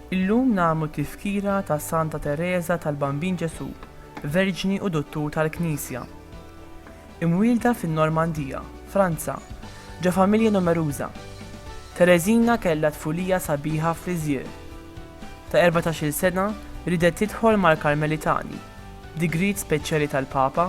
Illum nagħmlu tifkira ta' Santa Tereża tal-Bambin Ġesù, Verġni u Duttur tal-Knisja. Imwielda fin-Normandija, Franza, ġo familja numeruża, Tereżina kellha tfulija sabiħa f'Lisieux. Ta' erbatax-il sena riedet tidħol mal-Karmelitani, b'digriet speċjali tal-Papa,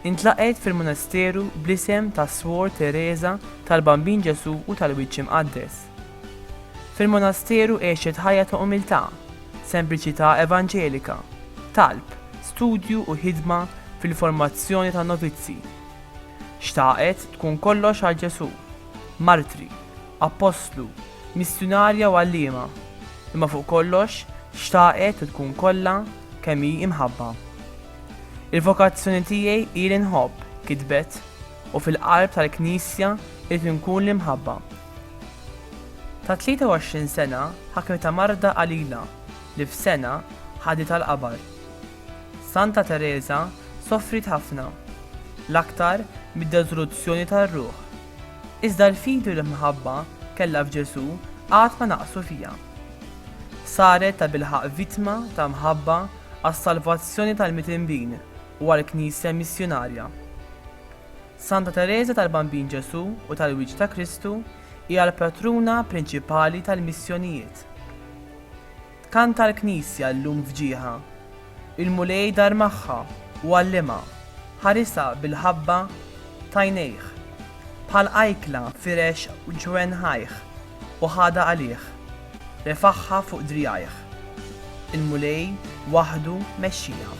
intlaqgħet fil-munasteru bl-isem tas-Swor Tereża tal-Bambin Ġesù u tal-Wiċċ Imqaddes. Fil-monasteru għexet ħajja ta' umiltà, sempliċità evanġelika, talb, studju u ħidma fil-formazzjoni tan-novizzi. Xtaqet tkun kollox għal Ġesù, martri, appostlu, missjunarja u għalliema, imma fuq kollox xtaqet u tkun kollha kemm hi imħabba. Il-vokazzjoni tiegħi hi li nħobb, kitbet, u fil-qalb tal-Knisja rrid inkun l-imħabba. Ta' 23 sena ħakmitha marda qalila li f'sena ħaditha l-qabar. Santa Tereża sofriet ħafna, l-aktar mid-deżoluzzjoni tar-ruħ. Iżda l-fidi u l-imħabba kellha f'Ġesù qatt ma naqsu fiha. Saret tabilħaqq vittma ta' mħabba għas-salvazzjoni tal-mitinbin u għall-Knisja Missjunarja. Santa Tereża tal-Bambin Ġesù u tal-Wiċċ ta' Kristu hija l-patruna prinċipali tal-missjonijiet. Tkanta l-Knisja llum f'ġieħha. Il-Mulej dar magħha u għallimha, ħarisha bil-ħabba t'għajnejh, bħal qajkla firex ġwenħajh. u ħadha għalih, refagħha fuq driegħajh. Il-Mulej waħdu mexxieha.